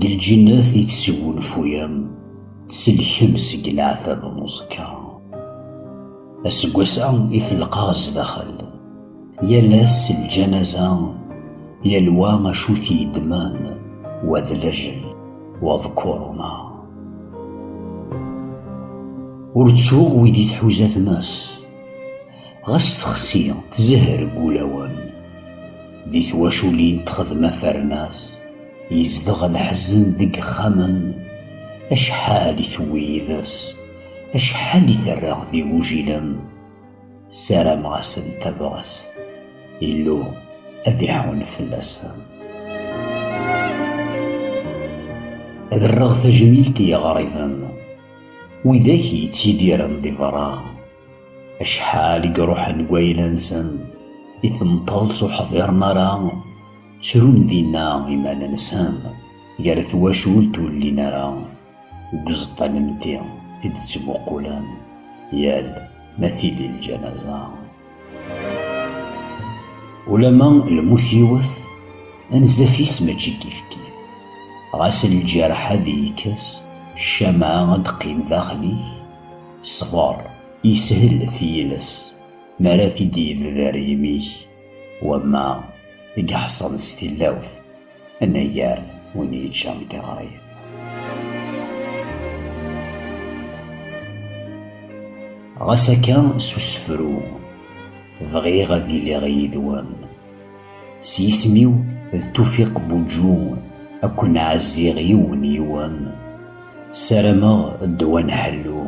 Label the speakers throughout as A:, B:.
A: D lǧennet i tesgunfuyem, tselkem seg leɛtab n uẓekka. Aseggas-a i t-lqaɣ zdaxel. Yal ass s lǧanaza, yal wa acu t-yeddmen, wa d lajel, wa d kuruna. Ur ttuɣ wid i tḥuza tmes. Ɣas texsi tzehher deg wulawen. Di twaculin texdem afernas. Yezdeɣ leḥzen deg yexxamen. Acḥal i tewwi yid-s. Acḥal i terra d igujilen. Ssarameɣ-asen tabɣest. Illu ad iɛun fell-asen. Ad rreɣ tajmilt i yiɣriben. Widak yettidiren di berra. Acḥal i iruḥen deg wayla-nsen i temṭelt ur ḥḍiren ara, ttrun dinna iman-nsen gar twacult ur llin ara deg uẓeṭṭa n lemti i d-ttmuqulen yal ma tili lǧanaza. Ulamma lmut yiwet, anzaf-is mačči kifkif, ɣas lǧerḥ ad ikkes, ccama ad d-teqqim daxel-ik, Ṣber, yeshel tiles mi ara t-id-yebder yimi-k, wamma i iḥeṣren s tilawt, anagar win yeččan tiɣrit. Ɣas akka s usefru, bɣiɣ ad iliɣ yid-wen. S yisem-iw d Tufiq Buǧu ad ken-ɛazziɣ yiwen yiwen. Sarameɣ ddwa n ḥellu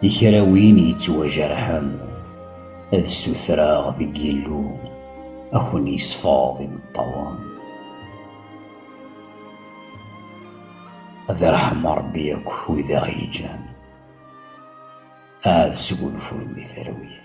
A: i kra win yettwajerḥen ad ssutreɣ deg Yillu ad ken-yesfeḍ imeṭṭawen. Ad irḥem Ṛebbi akk wid i ɣ-yeǧǧan, ad sgunfun di talwit.